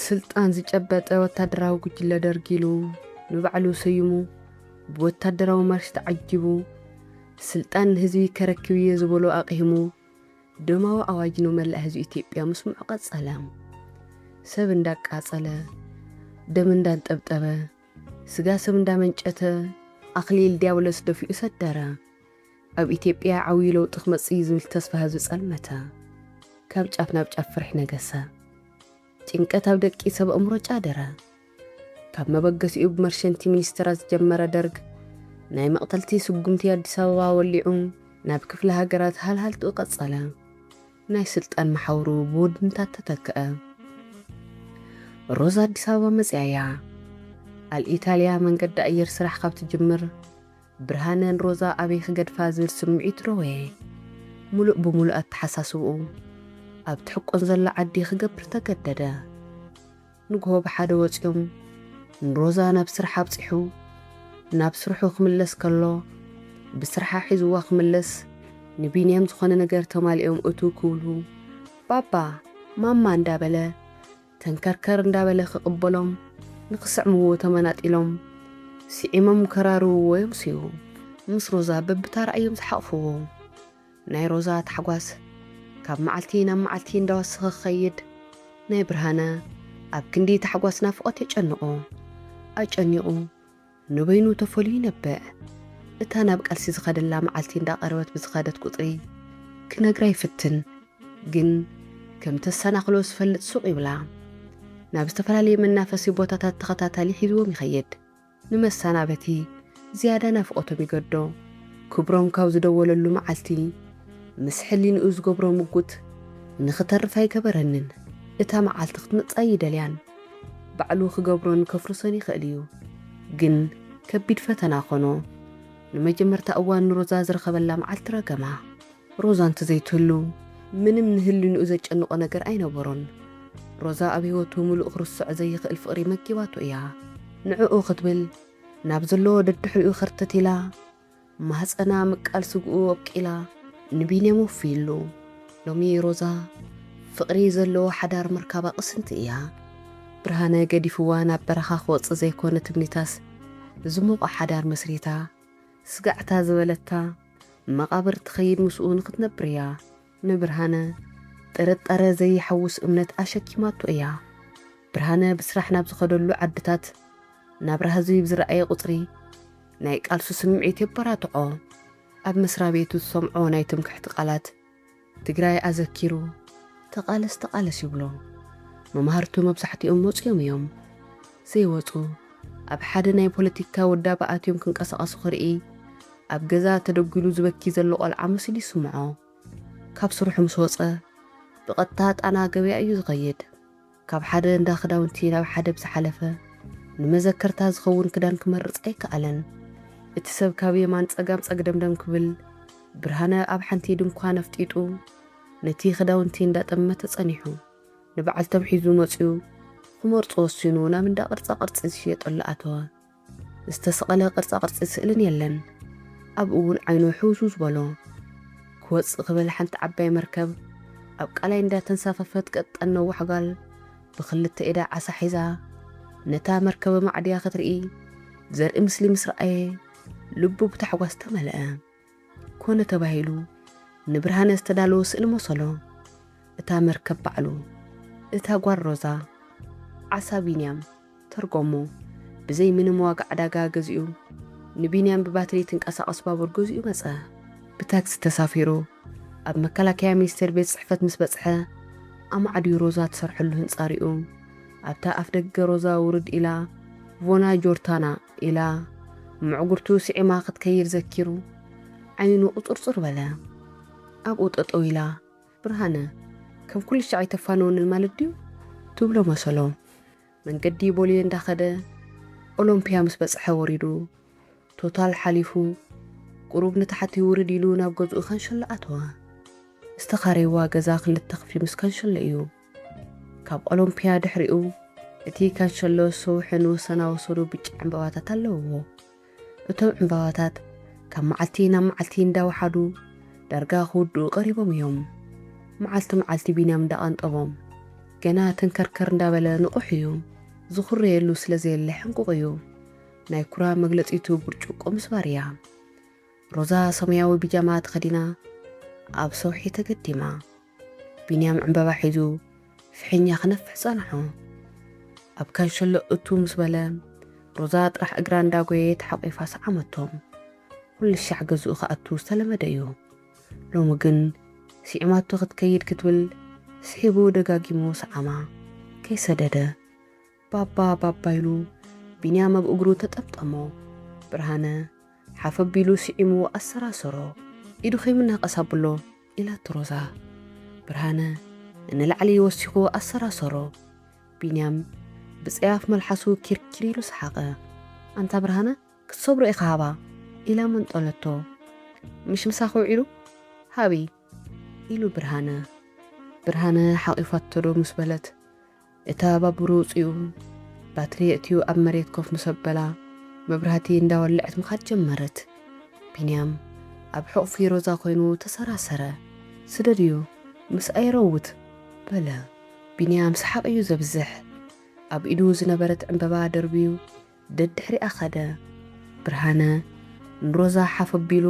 ስልጣን ዝጨበጠ ወታደራዊ ጉጅለ ደርጊ ኢሉ ንባዕሉ ሰይሙ ብወታደራዊ ማርሽ ተዓጂቡ ስልጣን ንህዝቢ ከረክብ እየ ዝበሎ ኣቕሂሙ ደማዊ ኣዋጅ ንመላእ ህዝቢ ኢትዮጵያ ምስምዑ ቀጸለ። ሰብ እንዳቃጸለ ደም እንዳንጠብጠበ ስጋ ሰብ እንዳመንጨተ ኣኽሊል ዲያብሎስ ደፊኡ ሰደረ። ኣብ ኢትዮጵያ ዓብዩ ለውጢ ክመፅእ እዩ ዝብል ተስፋ ህዝቢ ፀልመተ። ካብ ጫፍ ናብ ጫፍ ፍርሒ ነገሰ። ጭንቀት ኣብ ደቂ ሰብ ኣእምሮ ጫደረ። ካብ መበገሲኡ ብመርሸንቲ ሚኒስትራት ዝጀመረ ደርግ ናይ መቕተልቲ ስጉምቲ ኣዲስ ኣበባ ወሊዑ ናብ ክፍለ ሃገራት ሃልሃልትኡ ቀፀለ። ናይ ስልጣን መሓውሩ ብውድንታት ተተክኣ። ሮዛ ኣዲስ ኣበባ መጺኣ እያ። ኣልኢታልያ መንገዲ ኣየር ስራሕ ካብ ትጅምር፣ ብርሃነ ንሮዛ ኣበይ ክገድፋ ዝብል ስምዒት ረወየ። ምሉእ ብምሉእ ኣተሓሳስባኡ ኣብ ትሕቆን ዘላ ዓዲ ክገብር ተገደደ። ንግሆ ብሓደ ወጺኦም ንሮዛ ናብ ስርሓ ኣብጺሑ ናብ ስርሑ ክምለስ ከሎ ብስርሓ ሒዝዋ ክምለስ ንቢንያም ዝኾነ ነገር ተማሊኦም እትው ክብሉ ባባ ማማ እንዳበለ ተንከርከር እንዳበለ ክቅበሎም ንክስዕምዎ ተመናጢሎም ስዒሞም ከራርውዎ የምስዩ ምስ ሮዛ በብታራ እዮም ዝሓቅፍዎ። ናይ ሮዛ ታሕጓስ ካብ መዓልቲ ናብ መዓልቲ እንዳወሰኸ ክኸይድ ናይ ብርሃነ ኣብ ክንዲ ታሕጓስ ናፍቖት የጨንቖ። ኣጨኒቑ ንበይኑ ተፈልዩ ይነብዕ። እታ ናብ ቃልሲ ዝኸደላ መዓልቲ እንዳቐረበት ብዝኸደት ቁጽሪ ክነግራ ይፍትን ግን ከም ተሰናኽሎ ዝፈልጥ ሱቕ ይብላ። ናብ ዝተፈላለየ መናፈሲ ቦታታት ተኸታታሊ ሒዝዎም ይኸይድ። ንመሰናበቲ ዝያዳ ናፍቖቶም ይገዶ። ክብሮም ካብ ዝደወለሉ መዓልቲ ምስ ሕሊንኡ ዝገብሮ ምጉት ንኽተርፍ ኣይገበረንን። እታ መዓልቲ ክትመጽእ ኣይደልያን። ባዕሉ ክገብሮን ከፍርሶን ይኽእል'ዩ። ግን ከቢድ ፈተና ኮኖ። ንመጀመርታ እዋን ንሮዛ ዝረኸበላ መዓልቲ ረገማ። ሮዛ እንተዘይትህሉ ምንም ንህሊንኡ ዘጨንቖ ነገር ኣይነበሮን። ሮዛ ኣብ ህይወቱ ምሉእ ክርስዖ ዘይኽእል ፍቕሪ መጊባቶ እያ። ንዕኡ ክትብል ናብ ዘለዎ ደድሕሪኡ ከርተት ኢላ ማህጸና ምቃል ስግኡ ኣብቂላ ንቢንያም ወፍይሉ። ሎሚ ሮዛ ፍቕሪ ዘለዎ ሓዳር ምርካባ ቅስንቲ እያ። ብርሃነ ገዲፍዋ ናብ በረኻ ክወጽእ ዘይኮነ ትምኒታስ ዝሞቐ ሓዳር መስሪታ ስጋዕታ ዝበለታ መቓብር ትኸይድ ምስኡ ንኽትነብር እያ። ንብርሃነ ጥርጣረ ዘይሓውስ እምነት ኣሸኪማቶ እያ። ብርሃነ ብስራሕ ናብ ዝኸደሉ ዓድታት ናብራ ህዝቢ ብዝረኣየ ቁጽሪ ናይ ቃልሱ ስምዒት የበራትዖ። ኣብ መስራቤቱ ዝሰምዖ ናይ ትምክሕቲ ቃላት፣ ትግራይ ኣዘኪሩ ተቃለስ ተቃለስ ይብሎ መማህርቱ መብዛሕቲኦም ወፂኦም እዮም ዘይወፁ ኣብ ሓደ ናይ ፖለቲካ ወዳበ ኣትዮም ክንቀሳቀሱ ክርኢ ኣብ ገዛ ተደጉሉ ዝበኪ ዘሎ ቆልዓ መሲሉ ይስምዖ ካብ ስርሑ ምስ ወፀ ብቀጥታ ጣና ገበያ እዩ ዝከይድ ካብ ሓደ እንዳ ክዳውንቲ ናብ ሓደ ብዝሓለፈ ንመዘከርታ ዝኸውን ክዳን ክመርጽ ኣይከኣለን። እቲ ሰብ ካብ የማን ጸጋም ጸግደምደም ክብል ብርሃነ ኣብ ሓንቲ ድንኳን ኣፍጢጡ ነቲ ክዳውንቲ እንዳጠመተ ጸኒሑ ንበዓልቶም ሒዙ መጽዩ ክመርጹ ወሲኑ ናብ እንዳ ቅርጻ ቅርጺ ዝሽየጠሉ ኣተወ። ዝተሰቐለ ቅርጻ ቅርጺ ስእልን የለን ኣብኡ ውን ዓይኑ ሕውስውስ በሎ ክወጽእ ክብል ሓንቲ ዓባይ መርከብ ኣብ ቃላይ እንዳ ተንሳፈፈት ቀጣን ነዋሕ ጋል ብክልተ ኢዳ ዓሳ ሒዛ ነታ መርከበ ማዕድያ ክትርኢ ዘርኢ ምስሊ ምስ ረኣየ ልቡ ብታሕጓስ ተመለኣ። ኮነ ተባሂሉ ንብርሃነ ዝተዳለወ ስእሊ መሰሎ፣ እታ መርከብ ባዕሉ፣ እታ ጓል ሮዛ፣ ዓሳ ቢንያም፣ ተርጎሞ፣ ብዘይ ምንም ዋጋ ዕዳጋ ገዚኡ፣ ንቢንያም ብባትሪ ትንቀሳቐስ ባቡር ገዚኡ መጸ። ብታክሲ ተሳፊሩ ኣብ መከላከያ ሚኒስቴር ቤት ጽሕፈት ምስ በጽሐ፣ ኣማዕድዩ ሮዛ ትሰርሐሉ ህንጻ ሪኡ። ኣብታ ኣፍደገ ሮዛ ውርድ ኢላ ቮና ጆርታና ኢላ ምዕጉርቱ ስዒማ ክትከይድ ዘኪሩ ዓይኑ ቁጽርጽር በለ። ኣብኡ ጠጠው ኢላ ብርሃነ ከም ኩልሻዕ ኣይተፋንወንን ማለት ድዩ? ትብሎ መሰሎ። መንገዲ ቦሌ እንዳኸደ ኦሎምፒያ ምስ በጽሐ ወሪዱ ቶታል ሓሊፉ ቁሩብ ንታሕቲ ውርድ ኢሉ ናብ ገዝኡ ካንሸሎ ኣተወ። ዝተኻረይዋ ገዛ ክልተ ክፍሊ ምስ ካንሸሎ እዩ። ካብ ኦሎምፒያ ድሕሪኡ እቲ ካንሸሎ ሰውሕን ወሰና ወሰኑ ብጫ ዕምባባታት ኣለውዎ። እቶም ዕምባባታት ካብ መዓልቲ ናብ መዓልቲ እንዳወሓዱ ዳርጋ ክውድኡ ቀሪቦም እዮም። መዓልቲ መዓልቲ ቢንያም እንዳቐንጠቦም ገና ተንከርከር እንዳበለ ንቑሕ እዩ። ዝኹረየሉ ስለዘየለ ሕንቁቕ እዩ። ናይ ኩራ መግለጺቱ ብርጭቆ ምስባር እያ። ሮዛ ሰማያዊ ቢጃማ ተኸዲና ኣብ ሰውሒ ተገዲማ። ቢንያም ዕምበባ ሒዙ ፍሒኛ ክነፍሕ ጸንሖ። ኣብ ካንሸሎ እትው ምስ በለ፣ ሮዛ ጥራሕ እግራ እንዳጎየየት ሓቚፋ ሰዓመቶም። ኩልሻዕ ገዝኡ ክኣቱ ዝተለመደ እዩ። ሎሚ ግን ስዒማቶ ክትከይድ ክትብል ስሒቡ ደጋጊሙ ሰዓማ። ከይሰደደ። ባባ ባባ ኢሉ ቢንያም ኣብ እግሩ ተጠምጠሞ። ብርሃነ ሓፍ ኣቢሉ ስዒሙ ኣሰራሰሮ። ኢዱ ከይምናቐስ ኣብሎ ኢላቶ ሮዛ። ብርሃነ ንላዕሊ ወሲኹ ኣሰራሰሮ። ቢንያም ብጸያፍ መልሓሱ ኪርኪር ኢሉ ሰሓቐ። ኣንታ ብርሃነ ክትሰብሮ ኢኻ ሃባ ኢላ መንጠለቶ። ምሽ ምሳኺ ውዒሉ? ሃቢ ኢሉ ብርሃነ። ብርሃነ ሓቚፋቶዶ ምስ በለት እታ ባቡር ውጽኡ ባትሪ የእትዩ ኣብ መሬት ኮፍ ምስ ኣበላ መብራህቲ እንዳወለዐት ምኻድ ጀመረት። ቢንያም ኣብ ሕቑፊ ሮዛ ኮይኑ ተሰራሰረ። ስደድዮ ምስ ኣይረውት በለ። ቢንያም ሰሓቕ እዩ ዘብዝሕ። ኣብ ኢዱ ዝነበረት ዕንበባ ደርብዩ ደድሕሪኣ ከደ። ብርሃነ ንሮዛ ሓፍ ኣቢሉ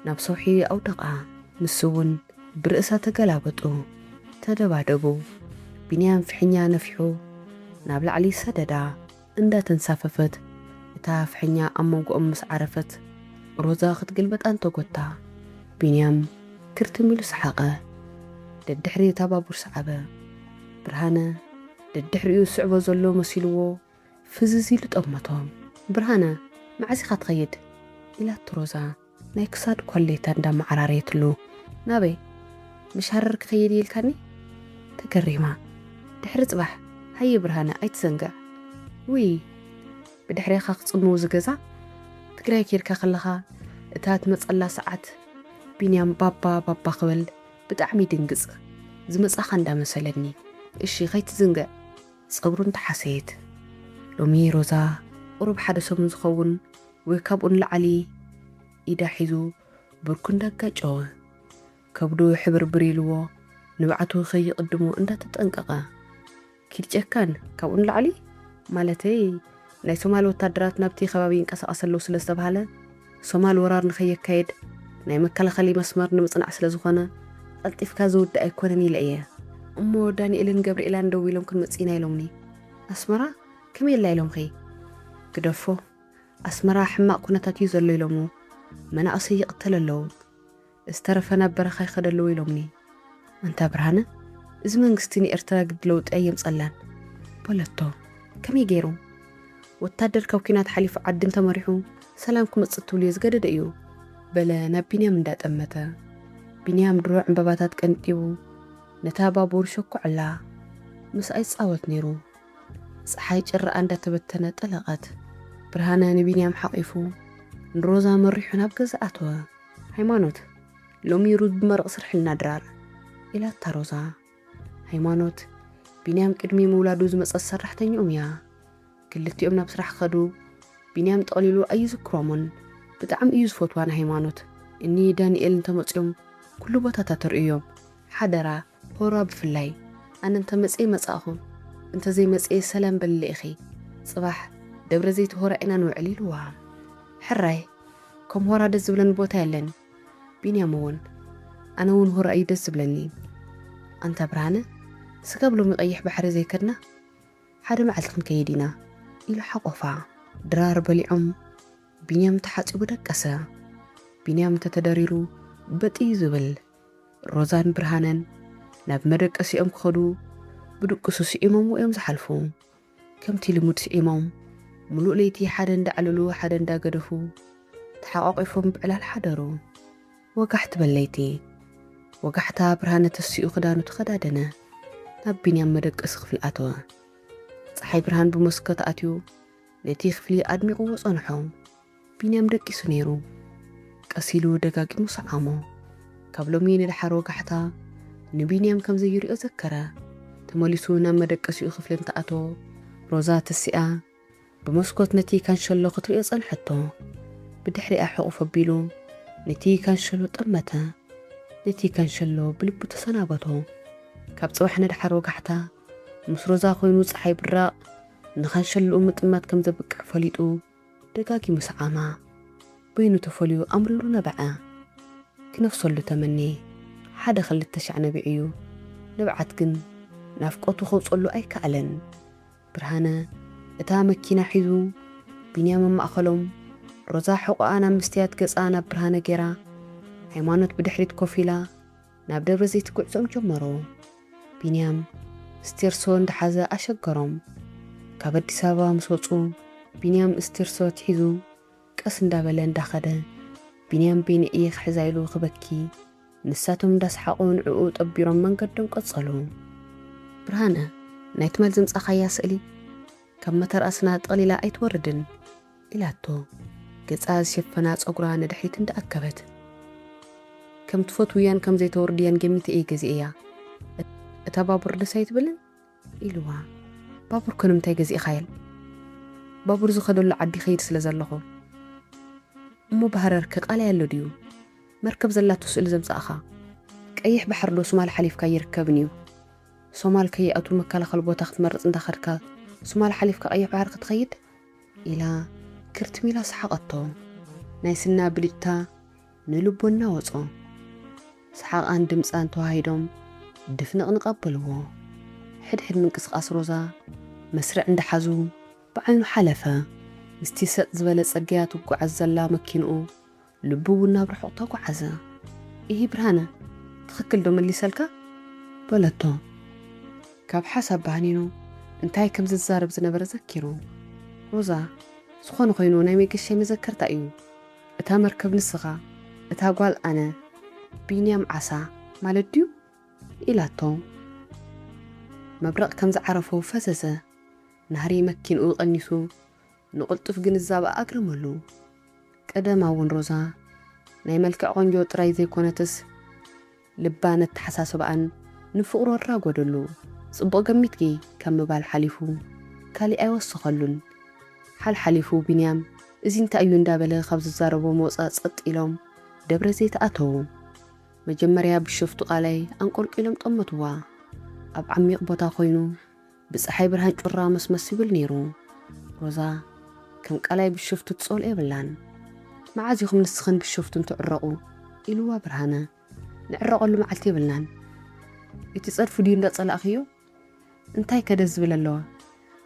ናብ ሰውሒ ኣውደቓ፣ ንሱ'ውን ብርእሳ ተገላበጡ። ተደባደቡ። ቢንያም ፍሕኛ ነፊሑ ናብ ላዕሊ ሰደዳ። እንዳ ተንሳፈፈት እታ ፍሕኛ ኣብ መንጎኦም ምስ ዓረፈት ሮዛ ክትግልበጥ ኣንተጎታ። ቢንያም ክርትም ኢሉ ሰሓቐ። ደድሕሪ እታ ባቡር ሰዓበ። ብርሃነ ደድሕሪኡ ዝስዕቦ ዘሎ መሲሉዎ፣ ፍዝዝ ኢሉ ጠመቶም። ብርሃነ፣ መዓዝ ኢኻ ትኸይድ? ኢላቶ ሮዛ ናይ ክሳድ ኮሌታ እንዳመዓራረየትሉ። ናበይ? ምሽ ሃረር ክኸይድ እየ ኢልካኒ? ተገሪማ። ድሕሪ ጽባሕ። ሃየ ብርሃነ ኣይትዘንግዕ። ውይ ብድሕሬኻ ክጽምው እዚ ገዛ? ትግራይ ኬድካ ከለኻ እታ ትመጸላ ሰዓት ቢንያም ባባ ባባ ክብል ብጣዕሚ ይድንግጽ። ዝመጻኻ እንዳመሰለኒ። እሺ ከይትዝንግዕ። ጸጉሩ እንተሓሰየት። ሎሚ ሮዛ ቁሩብ ሓደ ሰሙን ዝኸውን ወይ ካብኡ ንላዕሊ ኢዳ ሒዙ ብርኩ እንዳጋጨወ፣ ከብዱ ሕብርብር ኢልዎ ንብዓቱ ከይቕድሞ እንዳተጠንቀቐ፣ ኪድ ጨካን ካብኡ ንላዕሊ ማለተይ ናይ ሶማል ወታደራት ናብቲ ከባቢ ይንቀሳቐሰ ኣለዉ ስለዝተባህለ፣ ሶማል ወራር ንከየካይድ ናይ መከላኸሊ መስመር ንምጽናዕ ስለ ዝኾነ ቐልጢፍካ ዝውዳእ ኣይኮነን ኢለ እየ። እሞ ዳኒኤልን ገብሪኤላን ደዊሎም ክንመጽእ ኢና ኢሎምኒ ኣስመራ ከመይ ኣላ ኢሎምኺ? ግደፎ ኣስመራ ሕማቕ ኩነታት እዩ ዘሎ ኢሎሞ መናእሰይ ይቕተል ኣለው። ዝተረፈ ናብ በረኻ ይኸድ ኣለዎ ኢሎምኒ። ኣንታ ብርሃነ እዚ መንግስቲ ንኤርትራ ግዲ ለውጢ ኣየምጸላን በለቶ። ከመይ ገይሩ? ወታደር ካብ ኩናት ሓሊፉ ዓዲ እንተመሪሑ ሰላም ክመጽእ ትብልዮ ዝገደደ እዩ። በለ ናብ ቢንያም እንዳጠመተ። ቢንያም ድሮ ዕንበባታት ቀንጢቡ ነታ ባቡር ሸኩዐላ። ምስኣ ይጻወት ነይሩ። ጸሓይ ጭራኣ እንዳተበተነ ጠለቐት። ብርሃነ ንቢንያም ሓቚፉ ንሮዛ መሪሑ ናብ ገዛ ኣተወ። ሃይማኖት፣ ሎሚ ሩቢ ብመረቕ ስርሕልና ድራር። ኢላታ ሮዛ። ሃይማኖት፣ ቢንያም ቅድሚ ምውላዱ ዝመጸት ሰራሕተኝኦም እያ። ክልቲኦም ናብ ስራሕ ከዱ። ቢንያም ጠቕሊሉ ኣይዝክሮሙን። ብጣዕሚ እዩ ዝፈትዋ ንሃይማኖት። እኒ ዳኒኤል እንተመጽዮም ኩሉ ቦታታ ተርእዮም። ሓደራ ሆራ ብፍላይ ኣነ እንተመጽየ መጻእኹ እንተዘይመጽየ ሰላም በልለይ ኢኺ። ጽባሕ ደብረዘይቲ ሆራ ኢና ንውዕል ኢልዋ። ሕራይ! ከም ሆራ ደስ ዝብለኒ ቦታ የለን ቢንያም እውን ኣነ እውን ሆራ እዩ ደስ ዝብለኒ ኣንታ ብርሃነ ስጋብ ሎሚ ቀይሕ ባሕሪ ዘይከድና ሓደ መዓልቲ ክንከይድ ኢና ኢሉ ሓቆፋ። ድራር በሊዖም ቢንያም ተሓጺቡ ደቀሰ። ቢንያም እንተተደሪሩ በጥ እዩ ዝብል። ሮዛን ብርሃነን ናብ መደቀሲኦም ክኸዱ ብድቅሱ ስዒሞምዎ እዮም ዝሓልፉ። ከምቲ ልሙድ ስዒሞም ምሉእ ለይቲ ሓደ እንዳዕለሉ ሓደ እንዳገደፉ ተሓቋቒፎም ብዕላል ሓደሩ። ወጋሕ ትበል ለይቲ። ወጋሕታ ብርሃነ ተሲኡ ክዳኑ ተኸዳደነ። ናብ ቢንያም መደቀሲ ክፍሊ ኣተወ። ጸሓይ ብርሃን ብመስኮት ኣትዩ ነቲ ክፍሊ ኣድሚቕዎ ጸንሖ። ቢንያም ደቂሱ ነይሩ። ቀስ ኢሉ ደጋጊሙ ሰዓሞ። ካብ ሎሚ ንደሓር ወጋሕታ ንቢንያም ከም ዘይሪኦ ዘከረ። ተመሊሱ ናብ መደቀሲኡ ክፍሊ እንተኣተወ ሮዛ ተሲኣ ብመስኮት ነቲ ካንሸሎ ክትሪኦ ጸንሐቶ። ብድሕሪኣ ሕቑፍ ኣቢሉ ነቲ ካንሸሎ ጠመተ። ነቲ ካንሸሎ ብልቡ ተሰናበቶ። ካብ ጽባሕ ንደሓር ወጋሕታ ምስ ሮዛ ኮይኑ ጸሓይ ብራቕ ንካንሸሎኡ ምጥማት ከም ዘብቅዕ ፈሊጡ ደጋጊሙ ሰዓማ በይኑ ተፈልዩ ኣምሪሩ ነበዐ ክነፍሰሉ ተመኔ ሓደ ክልተ ሻዕ ነቢዑዩ ንብዓት ግን ናፍቆቱ ከውጸሉ ኣይከኣለን ብርሃነ እታ መኪና ሒዙ ቢንያም ኣማእከሎም ሮዛ ሕቆኣ ናብ መስትያት ገጻ ናብ ብርሃነ ጌራ ሃይማኖት ብድሕሪት ኮፍ ኢላ ናብ ደብረ ዘይቲ ጉዕዞኦም ጀመሩ። ቢንያም ስቴርሶ እንዳሓዘ ኣሸገሮም። ካብ ኣዲስ ኣበባ ምስ ወጹ ቢንያም ስቴርሶ ኣትሒዙ ቀስ እንዳበለ እንዳኸደ ቢንያም በይነይ እየ ክሕዛ ኢሉ ክበኪ ንሳቶም እንዳሰሓቑ ንዕኡ ጠቢሮም መንገዶም ቀጸሉ። ብርሃነ፣ ናይ ትማል ዘምጻኻያ ስእሊ ካብ መተርኣስና ጠቕሊላ ኣይትወርድን። ኢላቶ ገጻ ዝሸፈና ጸጉራ ንድሕሪት እንዳ ኣከበት። ከም ትፈትውያን ከም ዘይተወርድያን ገሚተ እየ ገዚኤያ። እታ ባቡር ደስ ኣይትብልን? ኢልዋ። ባቡር ከ ንምንታይ ገዚእኻየን? ባቡር ዝኸደሉ ዓዲ ይኸይድ ስለ ዘለኹ። እሞ ብሃረር ከ ቃላይ ኣሎ ድዩ? መርከብ ዘላቶ ስእሊ ዘምጻእኻ? ቀይሕ ባሕሪ ዶ ሱማል ሓሊፍካ ኣይርከብን እዩ? ሶማል ከይኣትው መከላኸሊ ቦታ ክትመርጽ እንዳ ኸድካ ሱማል ሓሊፍካ ቀይሕ ባሕሪ ክትኸይድ? ኢላ ክርትም ኢላ ሰሓቐቶ። ናይ ስና ብልጭታ ንልቦና ወጾ። ሰሓቓን ድምጻን ተወሃሂዶም ድፍንቕንቕ ኣበልዎ። ሕድሕድ ምንቅስቓስ ሮዛ መስርዕ እንዳሓዙ ብዓይኑ ሓለፈ። ምስቲ ሰጥ ዝበለ ጽርግያ ትጉዓዝ ዘላ መኪንኡ ልቡ እውን ናብ ርሑቕ ተጓዓዘ። ኢሂ ብርሃነ፣ ትኽክል ዶ መሊሰልካ? በለቶ ካብ ሓሳብ ባህኒኑ እንታይ ከም ዝዛረብ ዝነበረ ዘኪሩ። ሮዛ፣ ዝኾነ ኾይኑ ናይ መገሻይ መዘከርታ እዩ። እታ መርከብ ንስኻ፣ እታ ጓል ኣነ፣ ቢንያም ዓሳ ማለት ድዩ? ኢላቶ። መብረቕ ከም ዝዓረፎ ፈዘዘ። ናህሪ መኪንኡ ቐኒሱ ንቕልጡፍ ግንዛበኣ ኣግረመሉ። ቀደማ እውን ሮዛ ናይ መልክዕ ቆንጆ ጥራይ ዘይኮነትስ ልባን ኣተሓሳስባኣን ንፍቕሩ ኣራጎደሉ። ጽቡቕ ገሚትኪ ካብ ምባል ሓሊፉ ካሊእ ኣይወሰኸሉን። ሓልሓሊፉ ቢንያም እዚ እንታይ እዩ እንዳበለ ካብ ዝዛረቦም ወጻእ ጸጥ ኢሎም ደብረዘይት ኣተዉ። መጀመርያ ቢሾፍቱ ቃላይ ኣንቆልቂሎም ጠመትዋ። ኣብ ዓሚቕ ቦታ ኮይኑ። ብጸሓይ ብርሃን ጩራ መስመስ ይብል ነይሩ። ሮዛ ከም ቀላይ ብሸፍቱ ትጸልኦ የብላን። መዓዝ ኢኹም ንስኽን ብሸፍቱን ትዕረቑ? ኢሉዋ ብርሃነ። ንዕረቐሉ መዓልቲ የብልናን። እቲ ጸድፊ ድዩ እንዳ ጸላእክዮ? እንታይ ከ ደስ ዝብል ኣለዋ?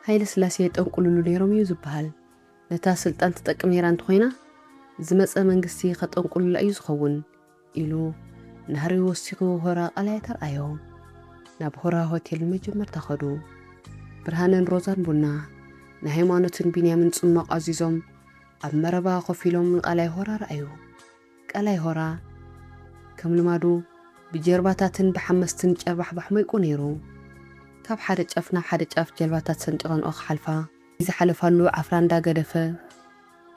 ሃይለስላሴ የጠንቁልሉ ነይሮም እዩ ዝበሃል። ነታ ስልጣን ትጠቅም ነይራ እንተኾይና ዝመጸ መንግስቲ ከጠንቁሉላ እዩ ዝኸውን። ኢሉ ናህሪ ወሲኹ ሆራ ቃላይ ተርኣዮም። ናብ ሆራ ሆቴል ንመጀመርታ ከዱ። ብርሃነን ሮዛን ቡና፣ ናይ ሃይማኖትን ቢንያምን ጽሟቕ ኣዚዞም ኣብ መረባ ኮፍ ኢሎም ንቃላይ ሆራ ረኣዩ። ቃላይ ሆራ ከም ልማዱ ብጀልባታትን ብሓመስትን ጨርባሕባሕ ሞይቁ ነይሩ። ካብ ሓደ ጫፍ ናብ ሓደ ጫፍ ጀልባታት ሰንጢቐንኦ ክሓልፋ። እቲ ዝሓለፋሉ ዓፍራ እንዳገደፈ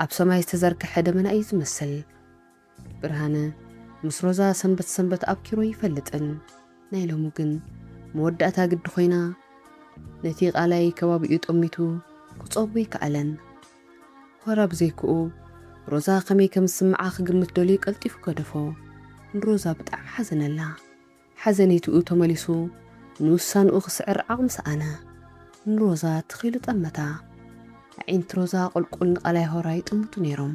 ኣብ ሰማይ ዝተዘርገሐ ደመና እዩ ዝመስል። ብርሃነ ምስ ሮዛ ሰንበት ሰንበት ኣብኪሩ ኣይፈልጥን ናይ ሎሚ ግን መወዳእታ ግዲ ኮይና ነቲ ቃላይ ከባቢኡ ጠሚቱ ክጸቡ ኣይከኣለን ሆራ ብዘይክኡ ሮዛ ከመይ ከም ዝስምዓ ክግምት ደልዩ ቀልጢፉ ገደፎ ንሮዛ ብጣዕሚ ሓዘነላ ሓዘኔትኡ ተመሊሱ ንውሳንኡ ክስዕር ዓቕሚ ሰኣነ ንሮዛ ትኽ ኢሉ ጠመታ ኣዒንቲ ሮዛ ቁልቁል ንቃላይ ሆራ ይጥምቱ ነይሮም።